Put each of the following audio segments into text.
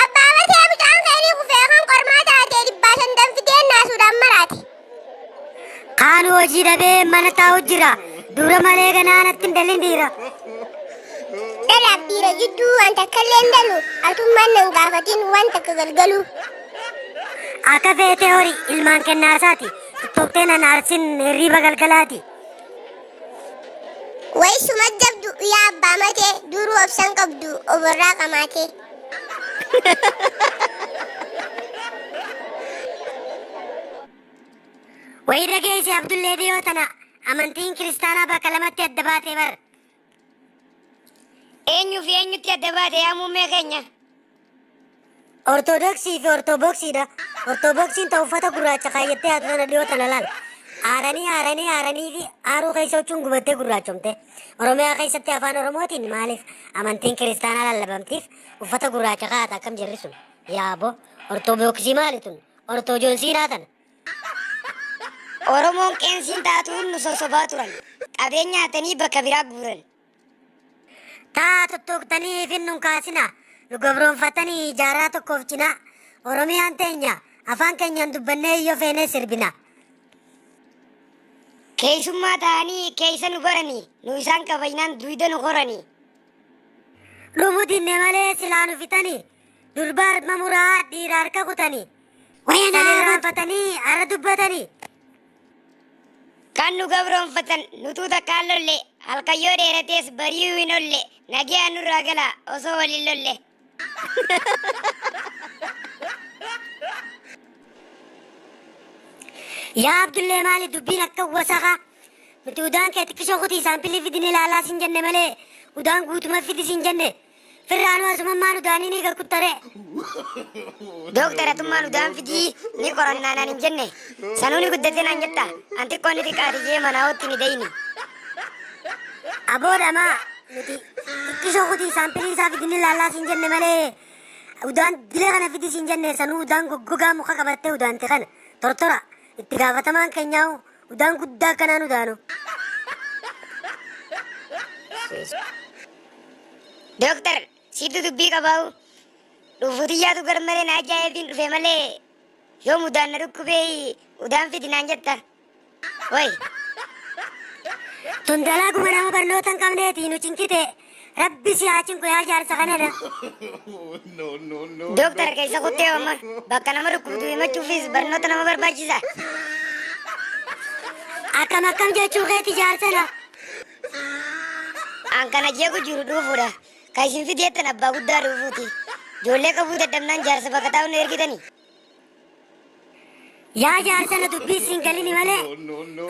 Abbaa Basee mucaan keenii kufee kan qormaa taatee dhibbaa shan danfitee naasuudhaan maraate. Kaan hojii dhabee mana taa'u jira. Dura malee ganaa natti hin dalin dhiira. Dhalaaf dhiira jidduu waan takka illee hin dalu. Atummaan nan gaafatin waan takka galgalu. Akka feetee horii ilmaan kennaasaati. Tuttuqtee nan aarsin hirriiba galgalaati. Way suma jabdu yaa abbaa matee duruu obsan qabdu oborraa qamaatee. Wayirra geesse Abdullee dhiyoo tana amantiin kiristaanaa bakka lamatti adda baatee bar. Eenyuu fi eenyutti adda baate yaa muummee keenya? Ortodoksii fi Ortoboksii dha. Ortoboksiin ta uffata gurraacha kaayyattee haatu tana dhiyoo tana laal. Aaranii aaranii aaranii fi aaruu keessa huccuun gubattee gurraachomte. Oromiyaa keessatti afaan Oromootiin maaliif amantiin kiristaanaa lallabamtiif uffata gurraacha kaa'ata akkam jirri sun? Yaabo Ortoboksii maali tun? Ortojoonsiinaa tana. Oromoon qeensiin taatuun nu sosobaa turan. Qabeenya hatanii bakka biraa guuran. Taa tuttuuqtanii ifin nun kaasina. Nu gabroonfatanii jaarraa tokkoof cinaa. Oromiyaan teenya afaan keenyaan dubbannee yoo feenee sirbina. Keessummaa ta'anii keessa nu baranii. Nu isaan kabajnaan duyda nu qoranii. Lubu dinne malee silaa nu fixanii. Durba harma muraa dhiira harka kutanii. Wayana Kan irraanfatanii ara dubbatanii. Kan nu gabroonfatan nutuu takkaan lolle halkan yoo dheeratees bari'uu hin olle nagayaan nurraa galaa osoo waliin lolle. Yaa Abdullee maali dubbiin akka wasakaa nuti udaan kee xiqqishoo kutii saampilii fidinee laalaa siin jenne malee udaan guutuma fidi siin jenne Firraanuu asumammaan udaanii ni gakkuttaree. Dooktar atummaan udaan fidii ni qorannaa naan hin jenne. Sanuu ni guddatee naan jetta. An xiqqoo ni xiqqaate jee manaa hootti ni dayni. Aboo dhamaa nuti xiqqishoo kutii saampilii isaa fidinni laallaa siin jenne malee udaan dilee kana fidi siin jenne sanuu udaan goggogaa muka qabattee udaanti kana tortora itti gaafatamaan keenyaa'u Udaan guddaa kanaan udaanu. Dooktar siittu dubbii qabaa'u dhuufuu xiyyaatu garmalee na ajaa'eetiin dhufe malee yoom udaan na dhukkubee udaan fidi naan jetta. Wayi. Tun dalaguma nama barnoota hin qabneeti nu cinkite. Rabbi si haa cinqu yaa jaarsa kanana. Dooktar keessa kuttee amma bakka nama dhukkubdu himachuufis barnoota nama barbaachisa. Akkam akkam jechuu keeti jaarsana. An kana jeequ jiru dhuufuudha. Kan isin fideettan abbaa guddaa dhuufuuti. Ijoollee qabuu dadhabnaan jaarsa bakka taa'u nu ergitanii. Yaa jaarsa na dubbii siin galini malee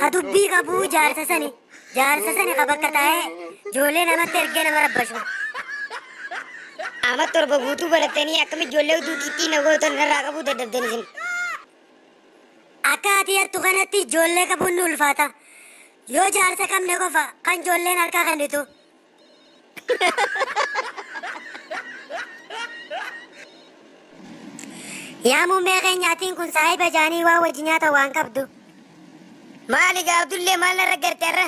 ka dubbii qabuu jaarsa sani jaarsa sani ka bakka taa'ee ijoollee namatti ergee nama rabbashu. Ama torba guutuu barattanii akkam ijoollee utuu qixxii na gootan narraa qabuu dadhabdan isin. Akka ati yattu kanatti ijoollee qabuun ni ulfaata. Yoo jaarsa qabne qofa kan ijoolleen harkaa kennitu. Yaa muummee keenya atiin kun saahiba jaanii waa wajji nyaata waan qabdu. Maali gaa Abdullee maal narra garte irra?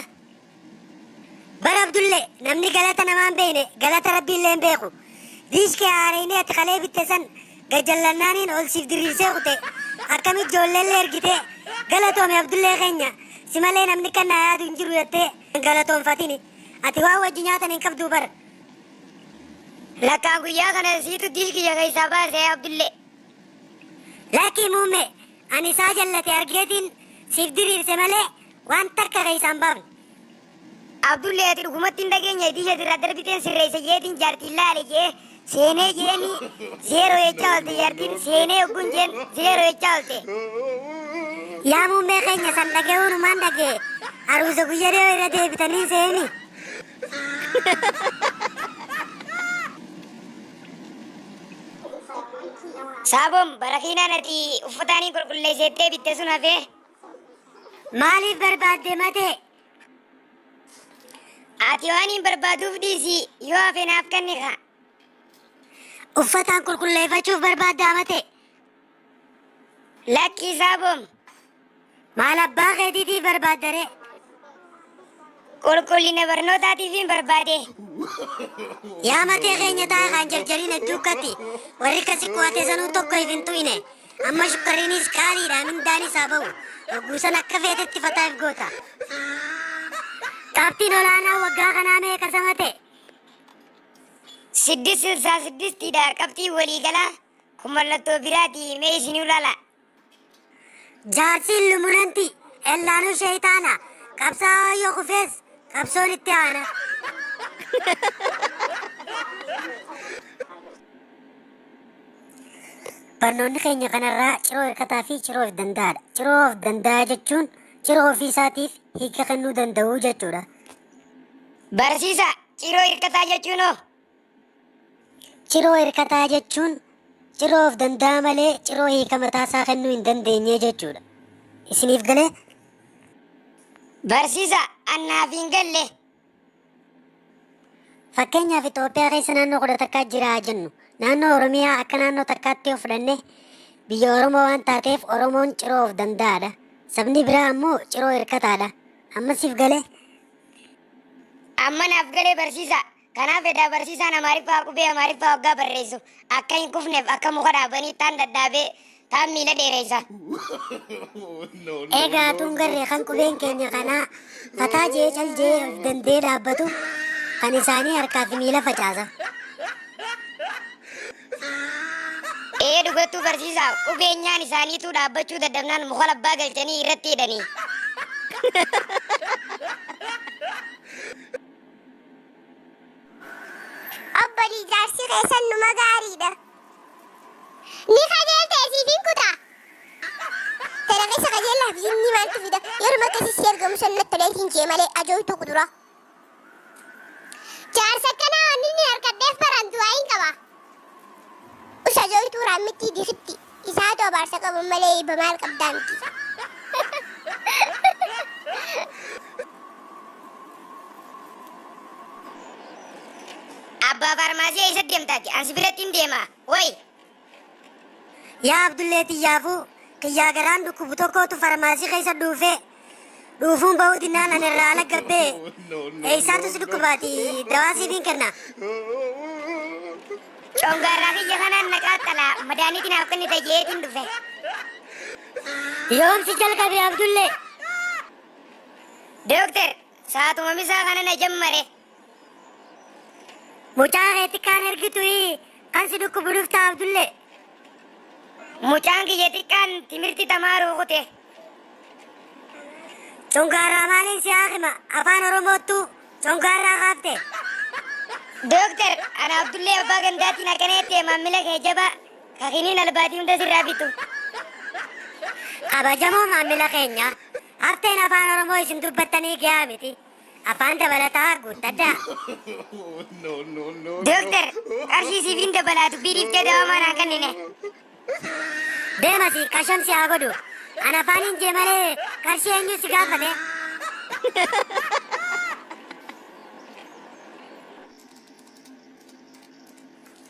Bara Abdullee namni galata namaan beekne galata rabbiillee hin beeku. Diishkee haareenii ati kalee bitte san gajjallannaaniin ol siif diriirsee kute akkamitti ijoolleellee ergitee galatoomi Abdullee keenya si malee namni kan naa yaadu hin jiru jettee hin galatoonfatini. Ati waan wajji nyaatan hin qabduu bar. Lakkaan guyyaa kana siitu dish kiyya keessaa baase yaa Abdullee. Lakkii muumme ani isaa jallate argeetiin siif diriirse malee waan takka keessaa hin baafne. Abdullee ati dhugumatti hin dhageenye dish asirraa darbiteen sirreessa jeetiin jaartiin laale jee Seenee jeeni zeeroo jechaa oolte jaartiin seenee ogguun jeen zeeroo jechaa oolte. Yaa muummee keenya san dhaga'uu numaan dhaga'e haruusa guyya dhiyoo irra deebitanii seeni. Saaboon barakiinaan ati uffataanii qulqulleesseettee bitte sun hafee. Maaliif barbaadde matee? Ati waan hin barbaaduuf dhiisi yoo hafe naaf kenni kaa. Uffataan qulqulleeffachuuf barbaaddaa mate. Lakki isaa boom. Maal abbaa keetiitiif barbaaddare? Qulqullina barnootaatiif hin barbaade. Yaa matee keenya taa'e kan jarjariin hedduukkatti. Warri kasi kuwate sanuu tokko hin tu'ine. Amma shukkarriinis qaaliidha mindaanis haa ba'u. Yogguu san akka feetetti fataa if goota. Qabxiin olaanaa waggaa kanaa meeqa sama ta'e? Siddis silsaa siddistiidha qabxiin waliigalaa kun mallattoo biraati mee isinuu laala. Jaarsi illumunanti ellaanuu sheeytaana qabsaa'aa yoo kufees qabsoon itti aana. Barnoonni keenya kanarraa ciroo hirkataa fi ciroo of danda'aadha. Ciroo of danda'aa jechuun ciroo ofii isaatiif hiika kennuu danda'u jechuudha. Barsiisa ciroo hirkataa jechuun hoo? Ciroo hirkataa jechuun ciroo of danda'aa malee ciroo hiika mataa isaa kennuu hin dandeenye jechuudha. Isiniif galee? Barsiisa annaaf hin galle. Fakkeenyaaf Itoophiyaa keessa naannoo kudha takkaa jira haa jennu. Naannoo Oromiyaa akka naannoo takkaatti yoo fudhanne biyya Oromoo waan taateef Oromoon ciroo of danda'aadha. Sabni biraa ammoo ciroo hirkataadha. Amma siif galee? Amma naaf galee barsiisaa. Kanaaf edaa barsiisaan Amaariffaa qubee Amaariffaa waggaa barreessu akka hin kufneef akka muka dhaabanii taan dhadhaabee Taan miila dheereysa. Egaa tun garre kan qubeen keenya kanaa fataa jee cal jee of dandee dhaabbatu kan isaanii harkaa fi miila facaasa. Ee dhugattuu barsiisaa qubeenyaan isaaniituu dhaabbachuu dadhabnaan muka labbaa galchanii irratti hidhanii. Obbo Diijaarsi keessan numa gaariidha. Ni qajeelta isiif hin kuta. Tana keessa qajeellaa fi inni maaltu fida? Yeruma akkasii si argamu san natti tolee siin jee malee ajooytuu kuduraa. Jaarsa akkanaa waan inni harkadheef baraan du'aa hin qaba. Us ajooytuu raammittii dikitti. Isaatu abaarsa qabu malee eebba maal qabdaa miti. Abbaa faarmaasii eessa deemta ati? An si birattiin deema. Way! Yaa Abdullee tiyyaafuu kiyyaa garaan dhukkubu tokkootu farmaasii keessa dhuufee dhuufuun bahuu dinnaan an irraa ala gabbee eessaatu si dhukkubaati dawaa siifiin kenna. Congaarraa kiyya kanaan na qaaxxala. Madaaniitti naaf kennita jeetiin dhufe. Yoomsi jalqabe Abdullee. Dooktar Saatuma misaa kana na jammare. Mucaa keetti kaan ergitu kan si dhukkubu dhufta Abdulle. Mucaan kiyya xiqqaan timirti tamaaruu kute. Congaarraa maaliin si haakima afaan Oromoottu congaarraa kaafte. Dooktar ana Abdullee abbaa gandaatiin akkana jettee maammila kee jabaa kakiniin albaatii hunda sirraa bitu. Kabajamoo maammila keenya Arteen afaan Oromoo isin dubbattanii gahaa miti. Afaan dabalataa guuttadhaa. Dooktar, qarshii siif hin dabalaa dubbii dhiiftee dawamaa naa kennine. Deemasi qasham si haa godhu. An afaan hin jee malee qarshii eenyu si gaafate.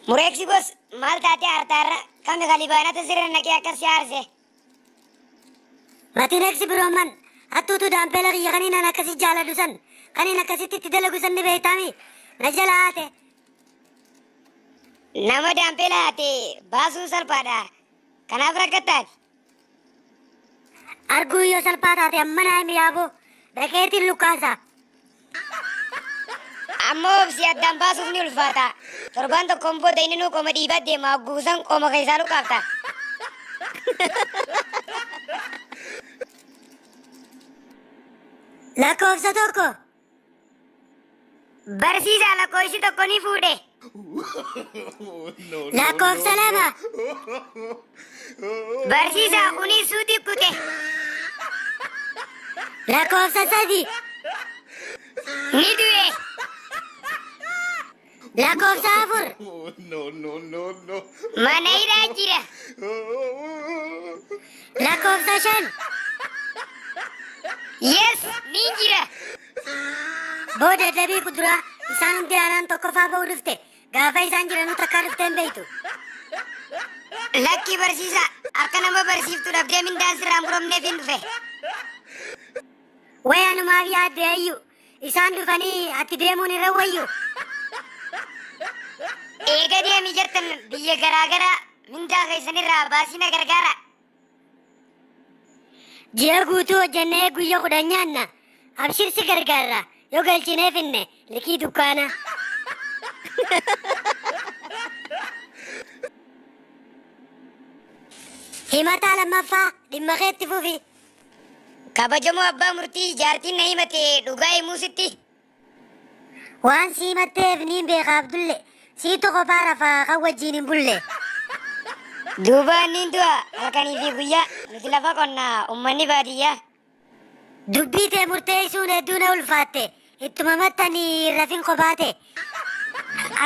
Mureeksi bos maal taatee artaarra kami kalibaanata sirra naqee akka si aarse. Latinex Broman, hattuutu daampeela kiyya kaniin an akkasi jaaladhu san, kaniin akkasitti itti dalagu san ni beektaami. Na jala haate. Nama daampeela haate baasuun salphaadha. Kanaaf rakkattaati. Arguu yoo salphaa taate amma naa himi yaaboo. Dhaqeetiin lukkaasa. Ammoo obsi addaan baasuuf ni ulfaata. Torbaan tokkoon booda inninuu qoma dhiibaa deema hogguu san qoma keessaa luqaafta. Lakkoofsa tokko. Barsiisaa lakkoofsi tokko ni fuudhe. Lakkoofsa lama. Barsiisaa kunis suuti kute. Lakkoofsa sadi. Ni du'e. Lakkoofsa afur. Mana hidhaa jira. Lakkoofsa shan. Yes, ni jira. Booda dabii kuduraa isaan hundi aanaan tokkoffaa ba'uu dhufte. Gaafa isaan jiranuu takkaa dhuftee hin beektu. Lakkii barsiisaa akka nama barsiiftu dhabdee mindaan sirraa muramneef hin dhufe. Wayaanumaaf yaadde ayyu. Isaan dhufanii atti deemuun irra wayyu. Eega deemii jettan biyya garaagaraa mindaa keessanirraa baasii na gargaara. Ji'a guutuu hojjennee guyya kudhan nyaanna. Abshir si gargaarra. Yoo galchinee finne likii dukkaana. Himataa lammaffaa dhimma keetti fufi. Kabajamoo abbaa murtii jaartiin na himate dhugaa himuu sitti. Waan si himatteef niin beeka Abdulle. Siitu kophaa rafa kan wajjiin hin bulle. Duuba niin du'a halkanii fi guyyaa. Nuti lafa qonna ummanni baadiyyaa. Dubbii tee murteessuun hedduu na ulfaatte. Ittuma mattanii hin rafin kophaa tee.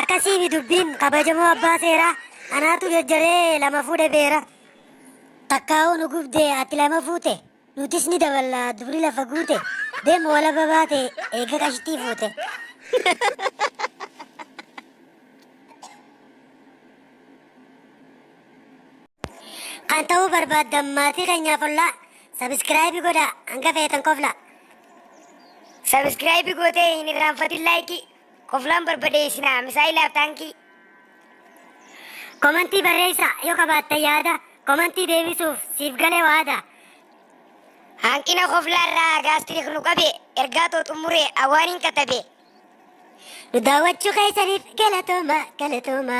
Akkasiimi dubbiin kabajamoo abbaa seeraa. Anaatu jajjaree lama fuudhe beera. Takkaa'uu nu gubde ati lama fuute. Nutis ni daballa dubri lafa guute deem walaba baate eega qashtii fuute. Kan ta'uu barbaaddan maatii keenyaaf ollaa sabiskiraayibii godhaa hanga feetan koflaa. Sabiskiraayibii gootee hin irraanfatin laayikii. Koflaan barbadee isinaa misaa'ilaaf taankii. Komantii barreessa yoo qabaatte yaada komantii deebisuuf siif gale waada. Hanqina koflaa irraa gaastirik nu qabe ergaa too xumure awwaaniin katabe. Nu daawwachuu keessaniif galatooma galatooma.